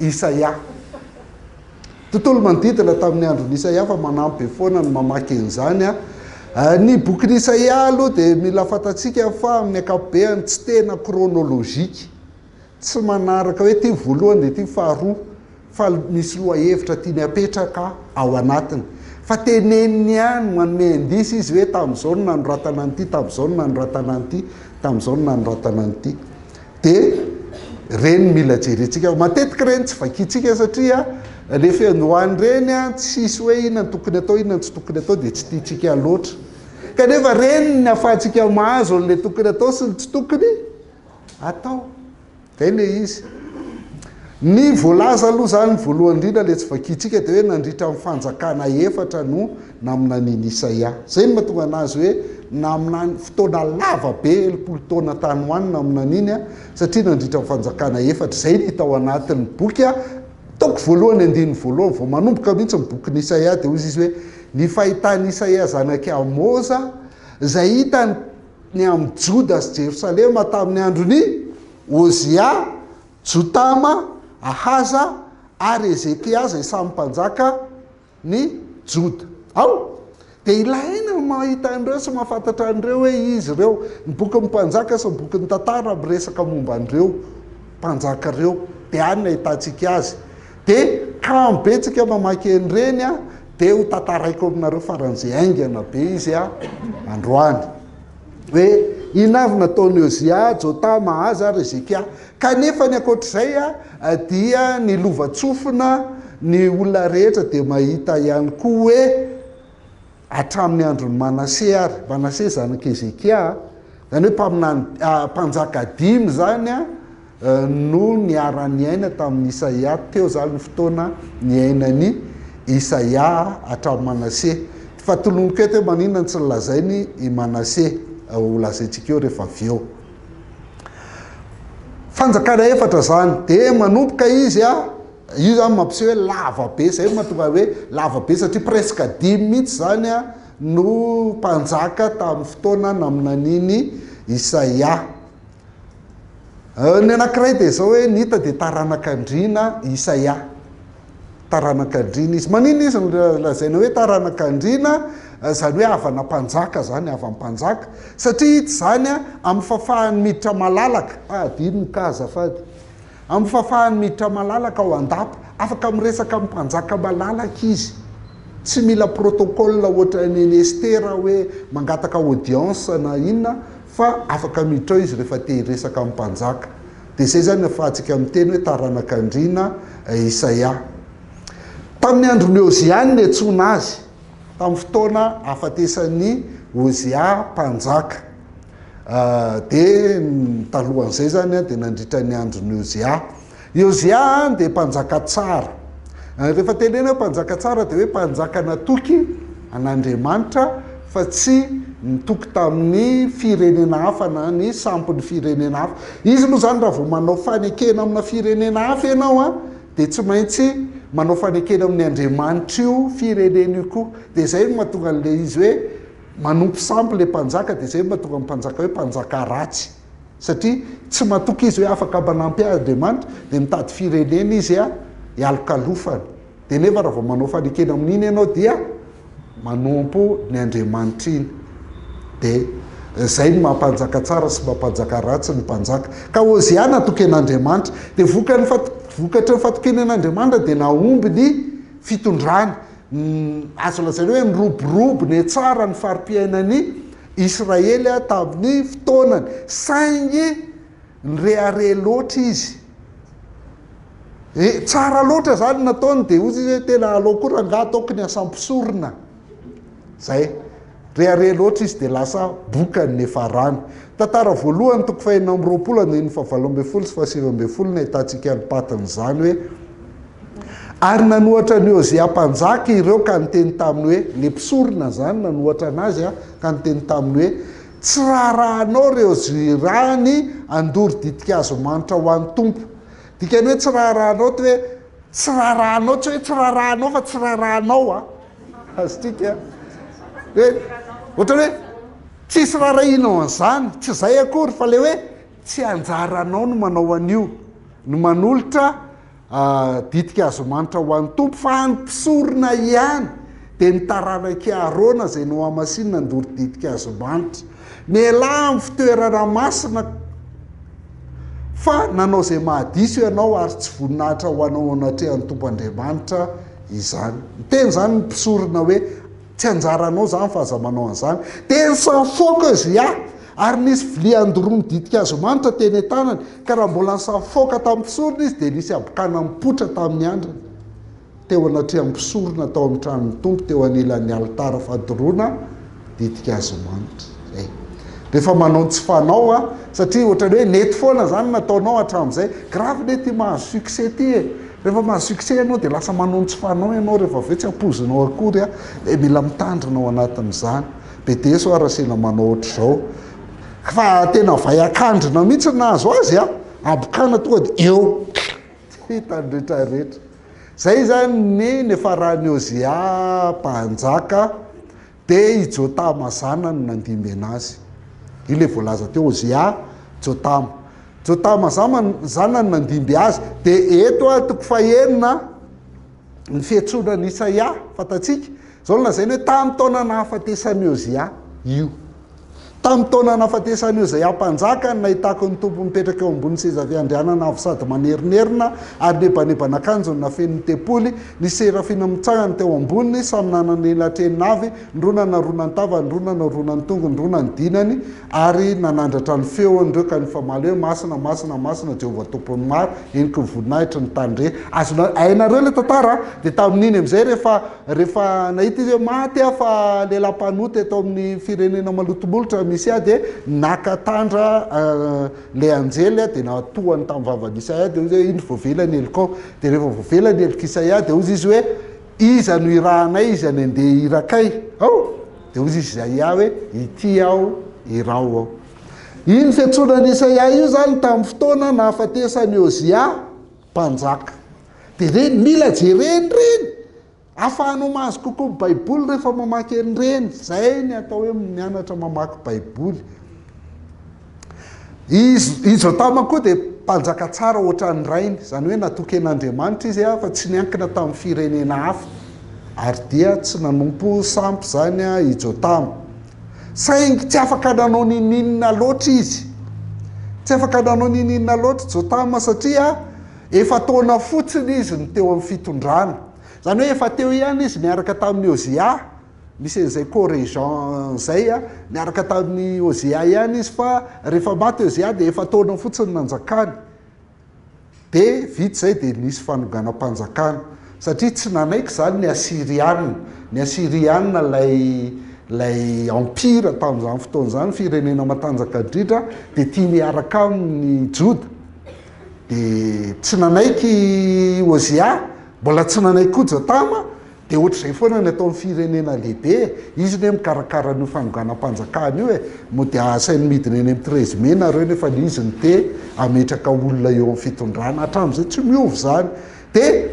Isaia. Tontolo manodidina tamin'ny andron'i Isaia fa manampy be foana ny mamaky an'izany. Ny bokin'i Isaia aloha dia mila fantatsika fa amin'ny ankapobeny tsy tena kronolojika, tsy manaraka hoe ity voalohany dia ity faharoa fa misy lohahevitra tiany hapetraka ao anatiny. Fa teneniny ihany, manome indice izy hoe tamin'izao no nanoratana an'ity, tamin'izao no nanoratana an'ity, tamin'izao no nanoratana an'ity. dia ireny mila jerentsika matetika ireny tsy vakintsika satria rehefa ny ho any ireny an tsy hisy hoe inona no tokony atao inona no tsy tokony atao dia tsy tiantsika loatra kanefa ireny ny ahafahantsika mahazo an'ilay tokony atao sy ny tsy tokony atao izay ilay izy ny voalaza aloha izany voalohany indrindra ilay tsy vakintsika dia hoe nandritra ny fanjakana efatra no naminanian'i Isaia. Izay no mahatonga anazy hoe naminany fotoana lava be, telopolo taona tany ho any naminaniany, satria nandritra ny fanjakana efatra. Izay no hita ao anatin'ny boky, taoko voalohany andininy voalohany, vao manomboka mihitsy ny bokin'i Isaia dia hoy izy hoe, Ny fahitan'i Isaia zanak'i Amoza, izay hitany ny amin'ny Joda sy Jerosalema tamin'ny andron'i Ozia, Jotama, Ahaza ary Hezekia izay samy mpanjaka, ny Joda. Ao, dia ilaina ny mahita an'ireo sy mahafantatra an'ireo hoe izy ireo. Ny Bokin'ny Mpanjaka sy ny Bokin'ny Tantara miresaka momba an'ireo mpanjaka ireo, dia any no ahitantsika azy. Dia kamo be tsika mamaky an'ireny an, dia ho tantaraiko aminareo faran'izay haingana be izy an, androany. hoe inona avy nataon'i Ozia, Jotama, Ahaza ary Hezekia. Kanefa ny ankoatra izay dia ny lovantsofina, ny olona rehetra dia mahita ihany koa hoe hatramin'ny andron'i Manase ary, Manase zanak'i Hezekia, izany hoe mpaminany, mpanjaka dimy izany, no niara-niaina tamin'i Isaia, teo izany ny fotoana niainan'i Isaia hatramin'i Manase. Fa tolomiko eto hoe maninona no tsy nolazainy i Manase, ho lazaintsika eo rehefa avy eo. Fanjakana efatra izany, dia manomboka izy, io izany mampiseho hoe lava be, izay no mahatonga hoe lava be satria presque dimy mihitsy izany no mpanjaka tamin'ny fotoana naminanian'i Isaia. Ny anankiray dia izao hoe ny hita dia taranak'andriana Isaia. Taranak'andriana izy. Maninona izy no lazaina hoe taranak'andriana, izany hoe havana mpanjaka izany, havan'ny mpanjaka? Satria hita izany amin'ny fahafahany miditra malalaka, ah adino ny cas azafady, amin'ny fahafahany miditra malalaka ao an-dapa, afaka miresaka amin'ny mpanjaka malalaka izy, tsy mila protocole ohatran'i Estera hoe mangataka audience na inona, Fa afaka miditra ao izy rehefa te hiresaka amin'ny mpanjaka. Dia izay izany ahafahantsika miteny hoe taranak'andriana Isaia. Tamin'ny andron'i Ozia no niantsoana azy, tamin'ny fotoana nahafatesan'i Ozia mpanjaka. Dia talohan'izay izany dia nandritra ny andron'i Ozia. Iôzià dia mpanjaka tsara. Rehefa tenenina hoe mpanjaka tsara dia hoe mpanjaka natoky an'Andriamanitra fa tsy nitoky tamin'ny firenena hafa na ny sampin'ny firenena hafa. Izy moa izany raha vao manao fanekena amina firenena hafa ianao dia tsy maintsy manao fanekena amin'ny Andriamanitr'io firenena io koa. Dia izay no mahatonga an'ilay izy hoe manompo sampy ilay mpanjaka, dia izay no mahatonga ny mpanjaka hoe mpanjaka ratsy. satria tsy matoky izy hoe afaka manampy ahy Andriamanitra dia mitady firenena izy hialokalofana dia nefa raha vao manao fanekena amin'iny ianao dia manompo ny Andriamanitra iny dia izay ny mampanjaka tsara sy mampanjaka ratsy ny mpanjaka ka Ozia natoky an'Andriamanitra dia vokany vokatry ny fatokiny an'Andriamanitra dia nahomby ny fitondrany Azo lazaina hoe niroborobo ny tsara ny fari-piainan'i Israely tamin'ny fotoanany, saingy nirehareha loatra izy. Eh, tsara loatra izany ny nataony, dia hoy izy hoe tena aleo koa rangahy ataoko ny asa mpisorona. Izay. Rehareha loatra izy dia lasa boka ny farany. Tantara voalohany toko fahenina amby roapolo andininy fahavalo ambin'ny folo sy fahasivy ambin'ny folo no ahitantsika ny patin'izany hoe, Ary nanohatra an'i Ozia mpanjaka ireo ka niteny taminy hoe, ilay mpisorona izany nanohatra anazy ka niteny taminy hoe, Tsy raharahanao ireo zirany handoro ditin-kazo manitra ho an'ny Tompo. Dikany hoe tsy raharahanao dia hoe tsy raharahanao, tsy hoe tsy raharahanao fa tsy raharahanao. Azontsika hoe ohatran'ny hoe tsisy raharahianao an'izany, tsy izay akory fa le hoe tsy anjaranao no manao an'io, ny manolotra ditika azy manitra ho an'ny Tompo fa an'ny mpisorona ihany, dia ny taranak'i Aharôna izay nohamasinina handoro ditika azy manitra. Mialà amin'ny fitoerana masina fa nanao izay mahadiso ianao ary tsy voninahitra ho anao anatrehan'ny Tompo Andriamanitra izany. Niteny izany ny mpisorona hoe, Tsy anjaranao izany fa aza manao an'izany. Dia nisafoaka Ozia, ary nisy vilia nodoronin'ny ditin-kazo manitra teny an-tanany, ka raha mbola nisafoaka tamin'ny mpisorona izy, dia nisy habokana nipoitra tamin'ny andrany. teo anatrehan'ny mpisorona tao amin'ny tranon'ny Tompo teo anilan'ny alitara fadoroana ditin-kazo manitra izay. Rehefa manao ny tsy fanao a, satria ohatrany hoe nety foana izany nataonao hatramin'izay, grave ne ity mahazo succès ity e, rehefa mahazo succès ianao dia lasa manao ny tsy fanao ianao rehefa avy eo tsy ampoizinao akory a, dia mila mitandrina ao anatin'izany, BDS ho'a Rasena manao ohatr'izao, fa tena vay an-kandrina mihitsy ny nahazo azy a, abokana tonga dia eo. Tsy hitan'ny rehetra rehetra. Zay zany ny nifaran'i Ozia mpanjaka de i Jotama zanany nandimbiana azy. Io le voalaza teo Ozia, Jotama. Jotama zanany nandimby azy de eto a toko fahenina ny fiantsoana an'i Isaia, fantatsika. Izao no lazainy hoe tamin'ny taona nahafatesan'i Ozia io. Tamin'ny taona nahafatesan'i Ozia mpanjaka no nahitako ny Tompo mipetraka eo ambonin'ny seza fiandrianana avo sady manerinerina ary nebaneban'akanjony nafenin'ny ny tempoly, ny serafina mitsangana teo amboniny, samy nanana elatreny navy, ny roa nanarona ny tavany, ny roa nanarona ny tongony, ny roa nanodinany, Ary nanandratra ny feony ireo ka nifamaly hoe, Masina, masina, masina Jehovah Tompon'ny maro, heloky ny voninahitry ny tany rehetra. Azonareo, hainareo ilay tantara an! Dia tamin'iny amin'izay rehefa, rehefa nahita izy hoe maty aho fa lehilahy mpanota eto amin'ny firenena malotomolotra misy ahy dia naka tandra ilay anjely dia natohany tamin'ny vavan'i Isaia dia hoy izy hoe, indro voavela ny helokao. Dia rehefa voavela ny helok'i Isaia dia hoy izy hoe, iza no irahanay, iza ny andeha irakay? Ao! Dia hoy Isaia hoe, Ity aho, iraho aho. Iny fiantsoana an'i Isaia io izany tamin'ny fotoana nahafatesan'i Ozia mpanjaka. Dia ireny mila jerena ireny, ahafahanao mahazo kokoa ny Baiboly rehefa mamaky an'ireny. Izay ny atao hoe mianatra mamaky Baiboly. I i Jotama koa dia mpanjaka tsara hoatran'ny rainy, izany hoe natoken'Andriamanitra izy fa tsy niankina tamin'ny firenena hafa, ary dia tsy nanompo sampy izany i Jotama. Saingy tsy afaka nanao n'inon'inona loatra izy. Tsy afaka nanao n'inon'inona loatra i Jotama satria efa-taona fotsiny izy no teo amin'ny fitondrana. Izany hoe efa teo ihany izy niaraka tamin'i Ozia. Misy an'izay co-régent zay a, niaraka tamin'i Ozia ihany izy fa rehefa maty i Ozia dia efa-taona fotsiny nanjakany. Dia vita izay dia nisy fanonganam-panjakana. Satria tsy nanaiky izany ny Asyrianina. Ny Asyrianina ilay ilay empire tamin'izany fotoana izany, firenena matanjaka indrindra, dia tia miaraka aminy ny Joda. Dia tsy nanaiky i Ozia, mbola tsy nanaiky koa Jotama, Dia ohatr'izay foana ny ataon'ny firenena lehibe e! Izy anie mikarakara an'io fanonganam-panjakana io e! Mody asainy midina eny amin'ny treize mai nareo nefa ilay izy no te hametraka olona eo amin'ny fitondrana. Hatramin'izay tsy miova izany. Dia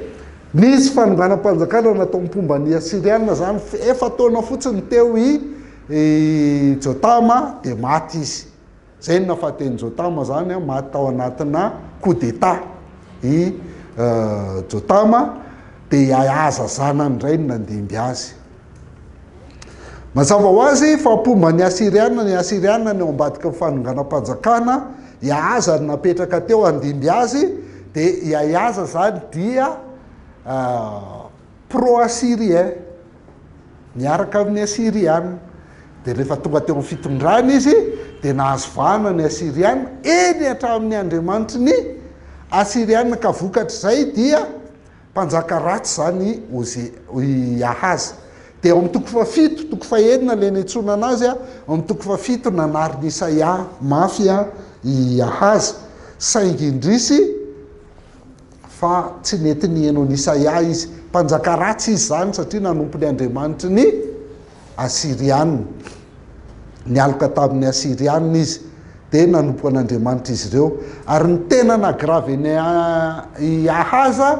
nisy fanonganam-panjakana natao mpomba ny Asiriana izany efa-taona fotsiny teo i Jotama dia maty izy. Zay no nafaten'i Jotama zany an, maty tao anatina coup d'état i Jotama, dia i Ahaza zanany indray no nandimby azy. Mazava ho azy fa mpomba ny Asiriana ny Asiriana ny ao ambadiky ny fanonganam-panjakana i Ahaza ary napetraka teo handimby azy, dia i Ahaza zany dia pro assyrien niaraka amin'ny assyriana dia rehefa tonga teo amin'ny fitondrana izy dia nahazo vahana ny assyriana eny hatramin'ny andriamanitry ny assyriana ka vokatr'izay dia mpanjaka ratsy izany i Ahaza dia ao amin'ny toko fahafito toko fahenina ilay niantsoana anazy ao amin'ny toko fahafito nanarin'i Isaia mafy i Ahaza saingy indrisy fa tsy nety niheno an'i Isaia izy. Mpanjaka ratsy izy izany, satria nanompo ny andriamanitry ny Asyrianina. Nialoka tamin'ny Asyrianina izy, dia nanompo an'andriamanitr'izy ireo. Ary ny tena naha-grave an'i i Ahaza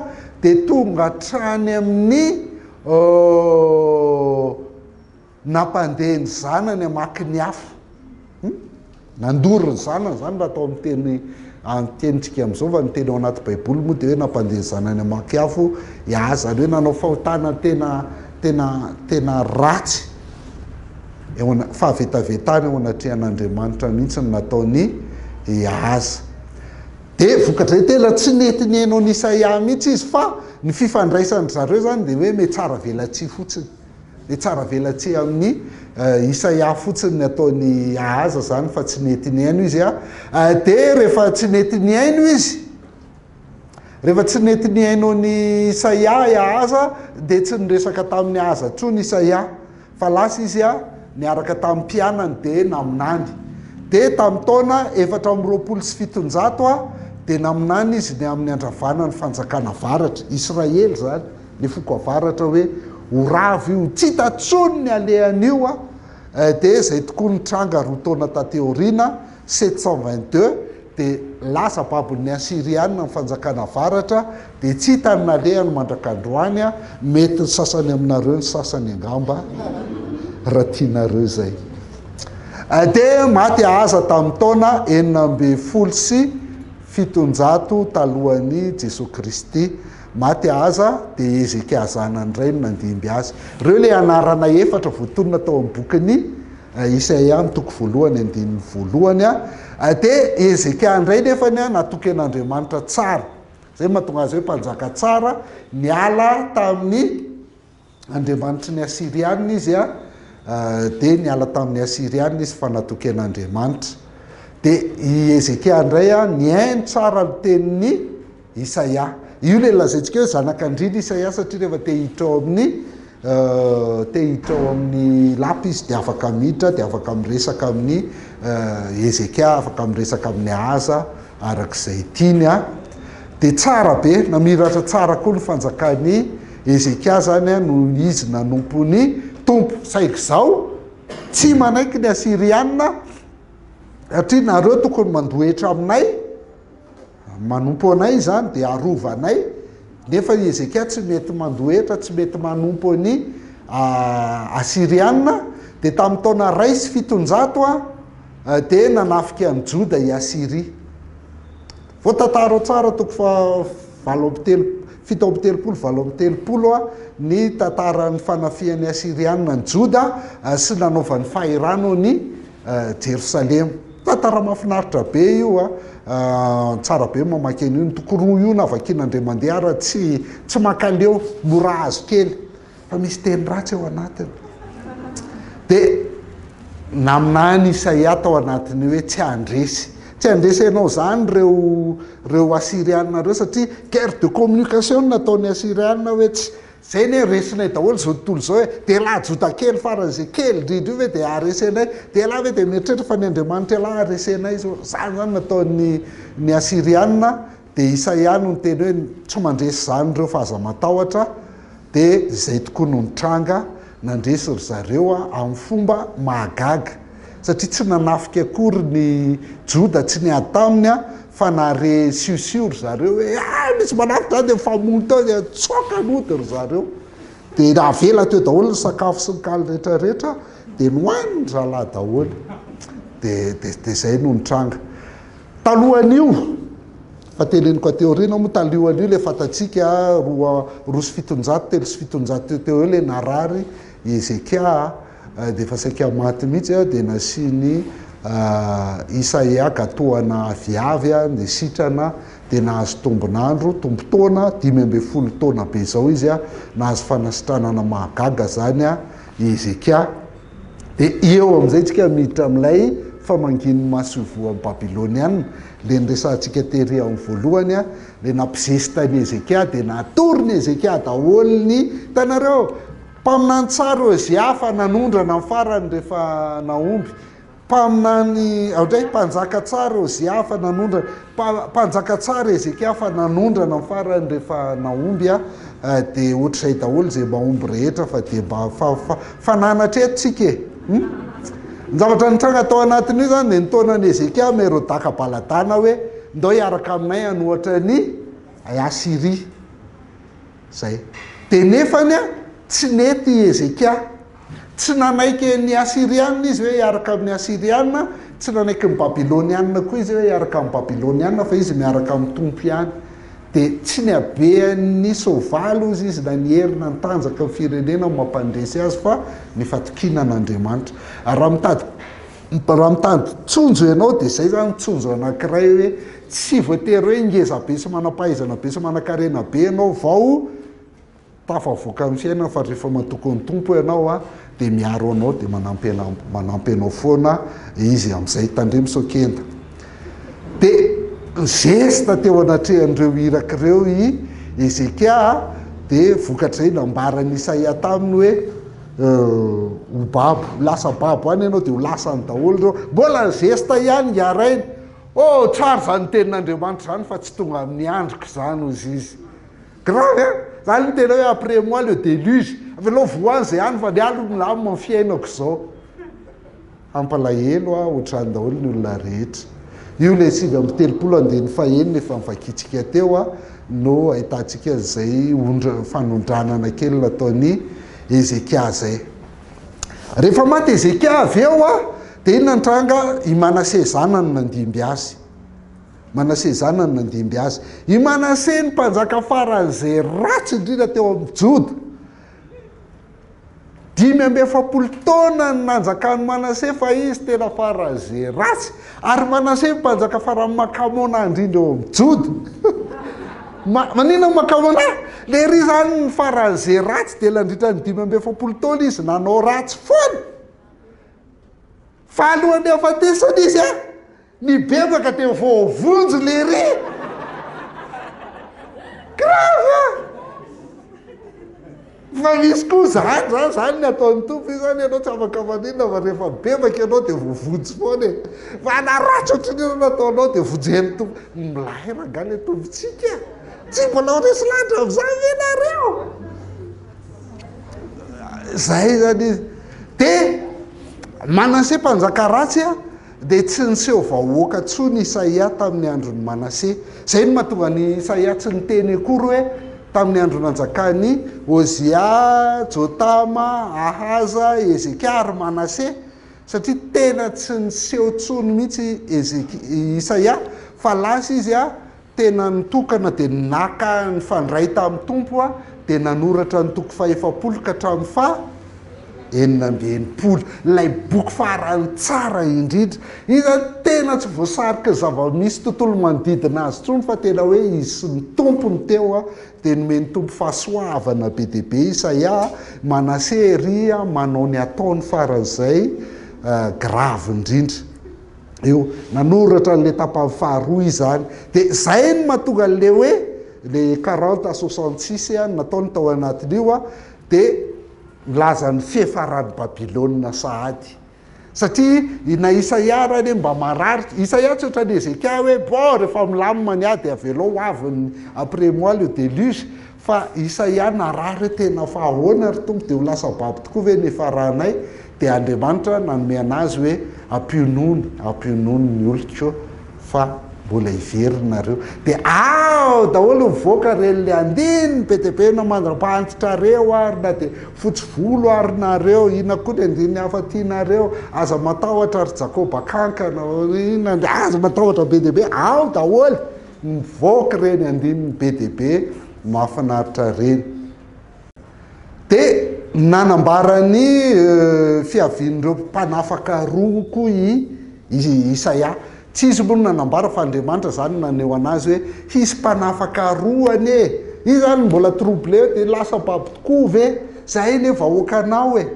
dia tonga hatrany amin'ny. Nampandeha ny zanany hamaky ny hafa. Hum? Nandoro ny zanany izany raha atao amin'ny teny amin'ny tenintsika amin'izao fa ny teny ao anaty baiboly moa dia hoe nampandeha ny zanany hamaky afo hiahy izany hoe nanao fahotana tena tena tena ratsy eo ana- fahavetavetana eo anatrehan'Andriamanitra mihitsy ny nataon'i Ahaza. Dia vokatr'izay tena tsy nety nihaino an'i Isaia mihitsy izy fa ny fifandraisan-dry zareo izany dia hoe miha tsara velatsihy fotsiny. Dia tsara velatsihy amin'i Isaia fotsiny ny ataon'i Ahaza izany fa tsy nety nihaino izy a. Dia rehefa tsy nety nihaino izy, rehefa tsy nety nihaino an'i Isaia i Ahaza dia tsy niresaka tamin'i Ahaza intsony Isaia fa lasa izy a niaraka tamin'ny mpianany dia naminany. Dia tamin'ny taona efatra amby roapolo sy fitonjato a dia naminany izy ny amin'ny handravana ny fanjakana avaratra, Israely izany. ny foko avaratra hoe ho ravo io tsy hita tsony ny alehany io a eh dia zay tokoa nitranga roa taona taty aoriana sept cent vingt deux dia lasa babon'ny asirianina ny fanjakana avaratra dia tsy hita ny nalehany mandrak'androany a mety ny sasany aminareo ny sasany angamba raha tianareo izay eh dia maty ahaza tamin'ny taona enina ambin'ny folo sy fitonjato talohan'i Jesoa Kristy Maty Ahaza, dia Hezekia zanany iray no nandimby azy. Ireo ilay anarana efatra voatonona tao amin'ny bokin'i Isaia amin'ny toko voalohany andininy voalohany. Dia Hezekia indray nefa natoken'Andriamanitra tsara. Izay no mahatonga azy hoe mpanjaka tsara, niala tamin'ny. andriamanitry ny Asirianina izy a, dia niala tamin'ny Asirianina izy fa natoky an'Andriamanitra. Dia i Hezekia indray a, nihaino tsara ny tenin'i Isaia. Io ilay lazaintsika hoe zanakandriana Isaia satria rehefa te hiditra ao amin'ny te hiditra ao amin'ny lapa izy dia afaka miditra, dia afaka miresaka amin'ny Hezekia, afaka miresaka amin'ny Ahaza araka izay tiany a. Dia tsara be, namiratra tsara koa ny fanjakan'i Hezekia izany no izy nanompo ny Tompo. Saingy izao, tsy manaiky ny Asiriana, satria nareo tokony mandohetra aminay, manompo anay izany dia arovanay, nefa i Hezekia tsy mety mandohetra, tsy mety manompo an'i Asiriana. Dia tamin'ny taona iray sy fitonjato dia nanafika an'i Joda i Asiria. Voatantara tsara toko faha valo amby telop-, fito amby telopolo, valo amby telopolo ny tantaran'ny fanafihan'ny Asyriana an'i Joda sy nanaovany fahirano an'i Jerosalema. Tantara mahafinaritra be io a! Tsara be ny mamaky an'io. Ny toko roa io na vakiana indray mandeha ara tsy tsy mankaleo, mora azo kely. fa misy teny ratsy ao anatiny. Dia naminany Isaia tao anatin'ny hoe tsy handresy. Tsy handresy anao izany ireo ireo Asiriana ireo satria guerre de communication no nataon'ny Asiriana hoe tsy zay anie resinay daholo izao tontolo izao e, dia elah Joda kely faran'izay kely indrindra io ve dia haharesy anay? Dia elah ve dia mieritreritra fa ny Andriamanitra elah haharesy anay izao? Izany izany no nataon'ny ny Asiriana. dia isa ihany no niteny hoe tsy mandresy izany ireo fa aza matahotra dia izay tokoa no nitranga, nandresy ry zareo amin'ny fomba mahagaga satria tsy nanafika akory ny Joda tsy niady taminy fa nahare siosio ry zareo hoe hay misy manafika izany dia mifamono teo dia nitsoaka nody ry zareo dia navela teo daholo ny sakafo sy ny kaly rehetra rehetra dia nohanin-dry zalahy daholo dia dia dia izay no nitranga. Talohan'io, efa teneniko aty aoriana moa, talohan'io ilay fantatsika roa roa sy fitonjato, telo sy fitonjato teo teo eo ilay narary i Hezekia dia efa saika maty mihitsy dia nasian'i Isaia gatoana aviavy ny sitrana dia nahazo tombon'andro, tombon-taona, dimy ambin'ny folo taona be izao izy, nahazo fanasitranana mahagaga izany i Hezekia. Dia eo amin'izay isika miditra amin'ilay famangian'ny masoivohon'i Babylonianina, ilay niresahantsika tery amin'ny voalohany, ilay nampizesta an'i Hezekia, dia natorin'i Hezekia daholo ny, hitanareo, mpaminany tsara Hosea fa nanondrana ny farany rehefa nahomby, Mpaminany aodray mpanjaka tsara Ozia fa nanondrana, mpanjaka tsara Hezekia fa nanondrana ny farany rehefa nahomby aho dia ohatr'izay daholo izay mahomby rehetra fa dia mba fa fa fananatra eto tsika e hum ny zavatra nitranga tao anatin'io izany dia ny taonan'i Hezekia Merodaka Baladana hoe ndao hiaraka aminay hanohatra an'i Asyria Zay. Dia nefany an, tsy nety i Hezekia. Tsy nanaiky ny Asiriana izy hoe hiaraka amin'ny Asiriana, tsy nanaiky ny Babyloniana koa izy hoe hiaraka amin'ny Babyloniana, fa izy miaraka amin'ny Tompo ihany. Dia tsy nihabehan'ny soavaly hozy izy na ny hery na ny tanjaka ny firenena no mampandresy azy fa ny fatokiana an'Andriamanitra. Ary raha mitady raha mitady tsonjo ianao dia zay zany ny tsonjo anankiray hoe Tsy voatery hoe ngeza be sy manam-pahaizana be sy manan-karena be ianao vao tafavoaka amin'ny fiainana fa rehefa matoky ny Tompo ianao a dia miaro anao dia manampy anao manampy anao foana Izy amin'izay. Tandremo sao kenda. Dia ny zesta teo anatrehan'ireo iraka ireo i Hezekia dia vokatrizay nambaran'i Isaia taminy hoe ho babo, lasa babo any ianao dia ho lasany daholo ireo. Mbola ny zesta ihany ngah rainy. Oh tsara zany tenin'Andriamanitra zany fa tsy tonga amin'ny androko zany ozy izy. Grave hein? Za aloha tena hoe après moi le déluge, avelao voany zay any fa ny ahy aloha milamina ny fiainako zao. Hampalahelo aho otrany daholo ny olona rehetra. Io le sivy amby telopolo andininy fahenina efa novakiantsika teo no ahitantsika an'izay ondra- fanondranana kely nataon'i Hezekia zay. Rehefa maty Hezekia avy eo dia inona ny tranga? I Manase zanany nandimby azy. Manase zanany nandimby azy. I Manase ny mpanjaka faran'izay ratsy indrindra teo amin'ny Joda. Dimy amby efapolo taona ny nanjakan'i Manase fa izy tena faran'izay ratsy. Ary Manase mpanjaka farany makamonà indrindra eo amin'ny Joda. Ma, maninona makamonà? Ilay iry izany ny farany izay ratsy dia nandritra ny dimy amby efapolo taona izy nanao ratsy foana. Fa alohan'ny hahafatesany izy a, nibebaka dia voavonjy ilay iry. Grave! Fa misy koa zany zany zany ny ataon'ny Tompo io zany ianao tsy afaka maninona fa rehefa bebaka ianao dia voavonjy foana e! Fa na ratsy ohatrin'ny inona nataonao dia vonjen'ny Tompo. Milay rangah le Tompontsika a! Tsy mbola ho resy lahatra amin'izany ve nareo? Zay zany izy. Dia Manase mpanjaka ratsy a! Dia tsy niseho vahoaka intsony i Isaia tamin'ny andron'i Manase. Izay no mahatonga an'i Isaia tsy niteny akory hoe tamin'ny andro nanjakan'i Ozia, Jotama, Ahaza, Hezekia ary Manase, satria tena tsy niseho intsony mihitsy i Isaia fa lasa izy. Tena nitokana dia naka nifandray tamin'ny Tompo aho dia nanoratra ny toko fahefapolo ka hatramin'ny faha enina amby enimpolo. Ilay boky farany tsara indrindra. Iny izany tena tsy voasarika zava-misy tontolo manodidina azy intsony fa tena hoe izy sy ny Tompo no teo a! Dia nomen'ny Tompo fahasoavana be dia be Isaia a! Manase ery a! Manao ny ataony faran'izay grave indrindra. eo nanoratra an'le tapany faharoa izany de zay no mahatonga an'le hoe le quarante à soixante six a nataony tao anatin'io a de milaza ny fihefaran'i Babylona sahady satria i na Isaia ary anie mba marary, Isaia tsy otran'i Hezekia hoe bon rehefa milamina ny ahy de avelao ho avy ny après moi le déluge Fa Isaia narary hoe tena fa ahoana ry Tompo dia ho lasa babo tokoa ve ny hifaranay? Dia Andriamanitra nanome anazy hoe ampionony, ampionony ny oloko fa mbola hiveriny nareo. Dia ao daholo mivoaka ireny le andininy be dia be na mandrapahantitra areo ary na dia fotsy volo ary nareo, inona koa ny andininy hafa tianareo, aza matahotra ry Jakoba kankana, inona, aza matahotra be dia be, ao daholo. Mivoaka ireny andininy be dia be mahafinaritra ireny. Dia nanambara ny fiavian'ireo mpanafaka roa koa i Isaia. Tsy izy moa no nanambara fa Andriamanitra izany no naneho an'azy hoe hisy mpanafaka roa anie. Izy izany mbola troublé dia lasa babo tokoa ve izahay ilay vahoakanao e?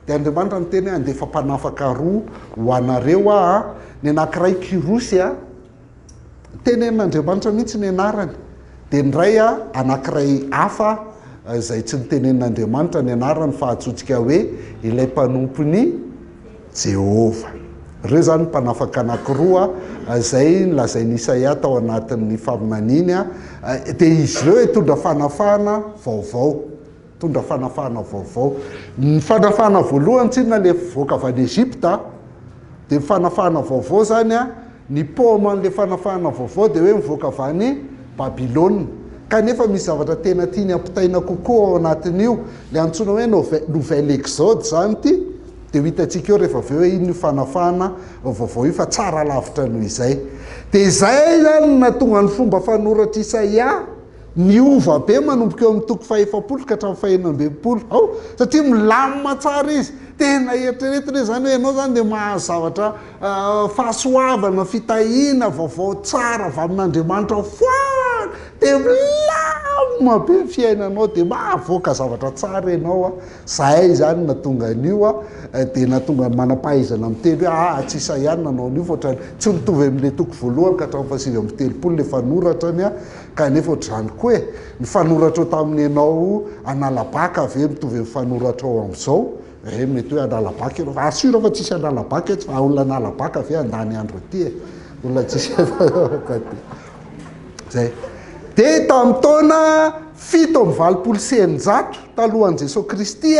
Dia Andriamanitra niteny hoe handefa mpanafaka roa ho anareo aho, ny anankiray Kyrosy a, tenenin'Andriamanitra mihitsy ny anarany dia indray a anankiray hafa izay tsy nitenenin'Andriamanitra ny anarany fa antsointsika hoe ilay mpanompon'i Jehovah. Ireo izany ny mpanafaka anankiroa izay nolazain'i Isaia tao anatin'ny faminaniany dia izy ireo hitondra fanafahana vaovao. Nitondra fanafahana vaovao. Ny fanafahana voalohany tsinona ilay voaka avy any Egypta dia ny fanafahana vaovao izany a, ny paoma an'ilay fanafahana vaovao dia hoe mivoaka avy any Babylona. Kanefa misy zavatra tena tiany ampitaina kokoa ao anatin'io, ilay antsoina hoe nouvelle nouvelle exode izany ity dia ho hitantsika eo rehefa avy eo hoe inona io fanafahana vaovao io fa tsara lavitra noho izay. Dia izay izany no nahatonga ny fomba fanoratr'i Isaia. Niova be manomboka eo amin'ny toko fahefapolo ka hatramin'ny fahenina ambin'ny folo ao satria milamina tsara izy. Tena eritreretina hoe izany hoe ianao izany dia mahazo zavatra fahasoavana, fitahiana, vaovao tsara avy amin'Andriamanitra foana, dia milamina be ny fiainanao, dia mahavoaka zavatra tsara ianao. Izahay izany nahatonga an'io dia nahatonga ny manam-pahaizana miteny hoe aa tsy Isaia no nanao an'io fa ohatran'ny tsy mitovy amin'ilay toko voalohany ka hatramin'ny fahasivy amby telopolo ilay fanoratra ny Kanefa ohatr'izany koa e! Ny fanoratrao tamin'ny ianao hanala bacc ve mitovy amin'ny fanoratrao amin'izao? Ee, mety hoe hanala bacc ianao fa ary sûr fa tsisy hanala bacc eto fa olona hanala bacc ve handany andro aty e? Olona tsisy Zay. Dia tamin'ny taona fito amby valopolo sy eninjato talohan'i Jesoa Kristy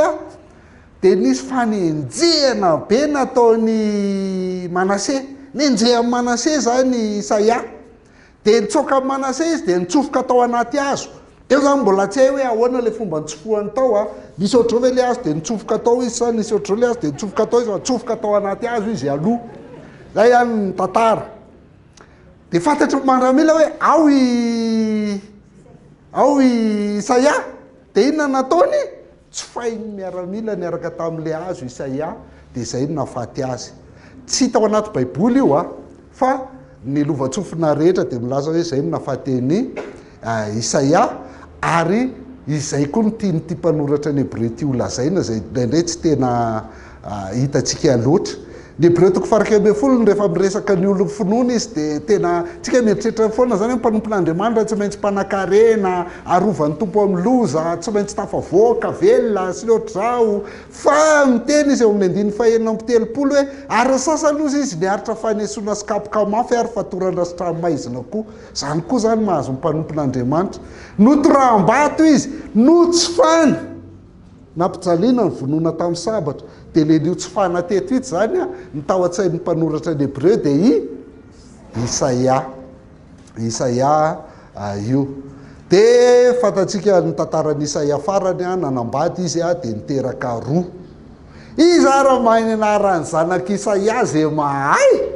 dia nisy fanenjehana be nataon'i Manase. Nenjehan'i Manase izany Isaia. Dia nitsoaka an'i Manase izy dia nitsofoka tao anaty hazo. Teo izany mbola tsy hay hoe ahoana ilay fomba nitsofohany tao an, nisy ohatr'izao ve ilay hazo dia nitsofoka tao izy sa nisy ohatr'izao ilay hazo dia nitsofoka tao izy fa nitsofoka tao anaty hazo izy aloha. Izay ihany ny tantara. Dia fantatry ny maramila hoe ao i ao i Isaia. Dia inona nataony? Tsofahin'ny miaramila niaraka tamin'ilay hazo Isaia, dia izay no nahafaty azy. Tsy hita ao anaty Baiboly io, fa ny lovantsofina rehetra dia milaza hoe izay no nahafaty an'i Isaia, ary izay koa no tian'ity mpanoratra ny Hebreo ity holazaina, izay indraindray tsy tena hitantsika loatra. Ny Hebreo-toko farakely ambin'ny folo no rehefa miresaka ny olon'ny finoana izy dia tena, tsika mieritreritra foana izany hoe mpanompon'Andriamanitra tsy maintsy mpanankarena, arovan'ny Tompo amin'ny loza, tsy maintsy tafavoaka, velona, sy ny ohatr'izao. Fa miteny izy eo amin'ny andininy fahenina amby telopolo hoe ary ny sasany hozy izy niaritra fanesoana sy kapoka mafy ary fatoran-dra-sitranomaizina koa. Izany koa izany mahazo ny mpanompon'Andriamanitra. Notoraham-bato izy, notsofana. Nampijaliana ny vonoana tamin'ny sabatra. Dia ilay niotsofana teto ito izany an, ny tao an-tsain'ny mpanoratra ny Hebreo dia i Isaia. Isaia io. Dia fantatsika ny tantaran'i Isaia farany an, nanambady izy an, dia niteraka roa. Iza ary mahay ny anaran'ny zanak'i Isaia izay mahay?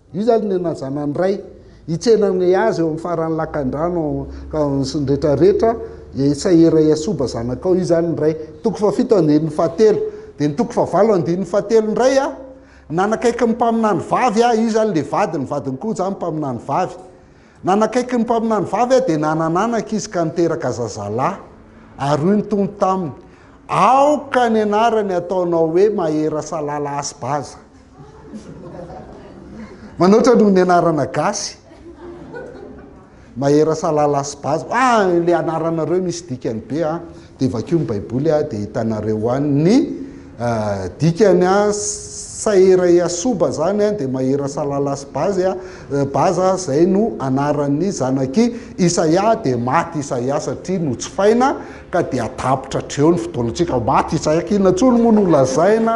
Io zany ny nazanan dray hitsena ny azy eo amin'ny faran'ny lakandrano sy ny rehetra rehetra e sahera e asoba zanakao io zany ny ray toko fahafito andininy fahatelo de ny toko fahavalo andininy fahatelo indray a nanakaiky ny mpaminany vavy a io zany le vadiny vadiny koa zany mpaminany vavy Nanakaiky ny mpaminany vavy aho dia nanana anaka izy ka niteraka zazalahy. Ary hoy ny Tompo taminy, Aoka ny anarany hataonao hoe Maherasalala Asibaza. Manoatra noho ny anarana gasy. Maherasalala Asibaza. Ah, ilay anaranareo misy dikany be an. dia vakio ny baiboly a dia hitanareo any ny dikany a, Saera Yasoba zany a dia Mahera Salalas Bazy a, Baza zay no anaran'ny zanak'i Isaia dia maty Isaia satria notsifaina ka dia tapitra hatreo ny fotoana antsika maty Isaia k'inona intsony moa no lazaina.